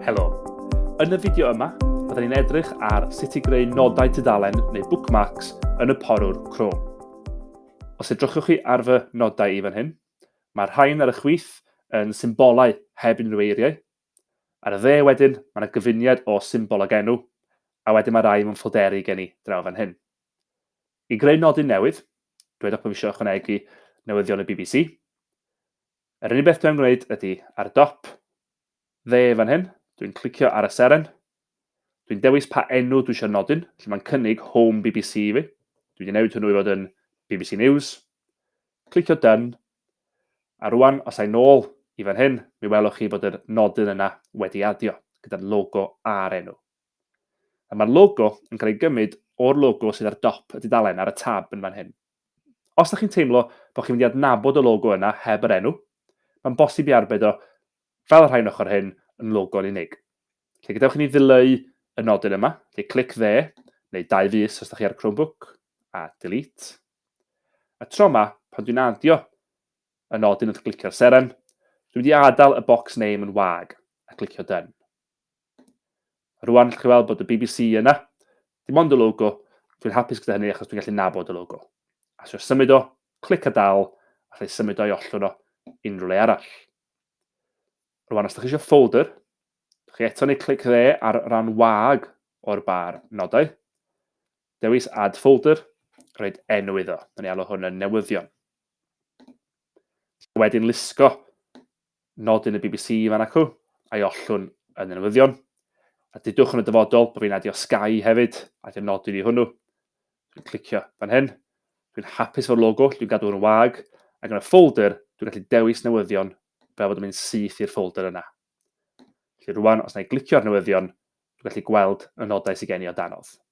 Helo. Yn y fideo yma, byddwn ni'n edrych ar sut i greu nodau tudalen neu bookmarks yn y porwr Chrome. Os edrychwch chi ar fy nodau i fan hyn, mae'r rhain ar y chwith yn symbolau heb unrhyw eiriau. Ar y dde wedyn, mae yna gyfuniad o symbol ag enw, a wedyn mae rai mewn ffolderi gen i draw fan hyn. I greu nodyn newydd, dywedwch bod eisiau ychwanegu newyddion y bbc. Yr unig beth dwi'n gwneud ydy, ar dop, dde fan hyn, dwi'n clicio ar y seren, dwi'n dewis pa enw dwi eisiau nodyn, lle mae'n cynnig Home BBC i fi. Dwi wedi newid hwnnw i fod yn BBC News. Clicio Done. A rwan, os a'i nôl i fan hyn, mi welwch chi bod yr nodyn yna wedi adio, gyda'r logo a'r enw. A mae'r logo yn cael ei gymryd o'r logo sydd ar dop y dudalen ar y tab yn fan hyn. Os ydych chi'n teimlo bod chi'n mynd i adnabod y logo yna heb yr enw, mae'n bosib i arbed o fel y rhain ochr hyn yn logo'n unig. Felly gadewch i ni ddileu y nodyn yma, felly clic dde, neu dau fus os ydych chi ar Chromebook, a delete. A tro yma, pan dwi'n adio y nodyn wrth glicio'r seren, dwi'n mynd i adael y box name yn wag a clicio done. Rwan allwch chi weld bod y BBC yna. Dim ond y logo. Dwi'n hapus gyda hynny achos dwi'n gallu nabod y logo. A sio symud o, clic a dal, a allai symud o'i ollwn o unrhyw le arall. Rwan, os ydych chi eisiau folder, chi eto neu clic dde ar ran wag o'r bar nodau. Dewis Add Folder, rhaid enw iddo. Mae'n ei alw hwn yn newyddion. Wedyn lusgo nodyn y bbc fan acw, a'i ollwn yn y newyddion, a dudwch yn y dyfodol bod fi'n adio Sky hefyd, adio nodyn i hwnnw. Dwi'n clicio fan hyn, dwi'n hapus efo'r logo, dwi'n gadw yn wag, ac yn y ffolder dwi'n gallu dewis newyddion fel bod yn mynd syth i'r ffolder yna. Felly rwan, os na i glicio'r newyddion, dwi'n gallu gweld y nodau sydd gen i o danodd.